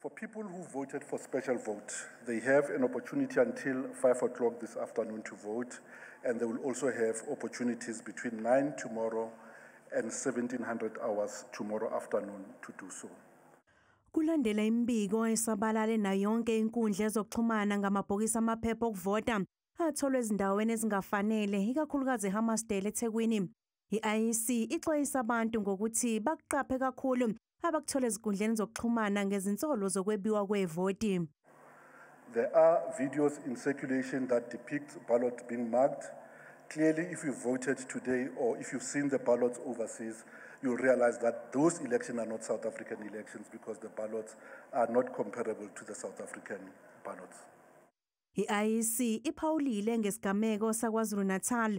For people who voted for special vote, they have an opportunity until 5 o'clock this afternoon to vote, and they will also have opportunities between 9 tomorrow and 1700 hours tomorrow afternoon to do so. Kulandela imibiko esabalale nayo yonke inkundla ezokuxhumana ngamabhokisi amaphepha okuvota atholwe ezindaweni ezingafanele, ikakhulukazi eHammarsdale eThekwini. I-IEC ixwayisa abantu ngokuthi bakuqaphe kakhulu abakuthola ezinkundleni zokuxhumana ngezinsolo zokwebiwa kwevoti. There are videos in circulation that depict ballots being marked. Clearly, if you voted today or if you've seen the ballots overseas, you'll realize that those elections are not South African elections because the ballots are not comparable to the South African ballots. I-IEC iphawulile ngesigameko saKwaZulu-Natal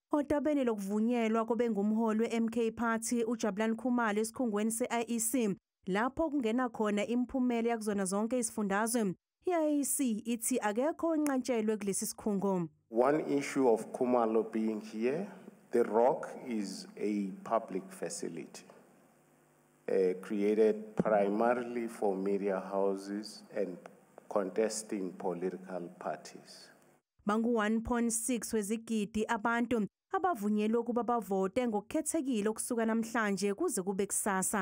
Odabeni lokuvunyelwa kobengumholi we-MK Party uJabulani Khumalo esikhungweni se-IEC lapho kungena khona imiphumela yakuzona zonke izifundazwe i-IEC ithi akekho onqatshelwe kulesi sikhungo. One issue of Khumalo being here, the rock is a public facility. Uh, created primarily for media houses and contesting political parties. Bangu-1.6 wezigidi abantu abavunyelwe ukuba bavote ngokukhethekile ukusuka namhlanje kuze kube kusasa.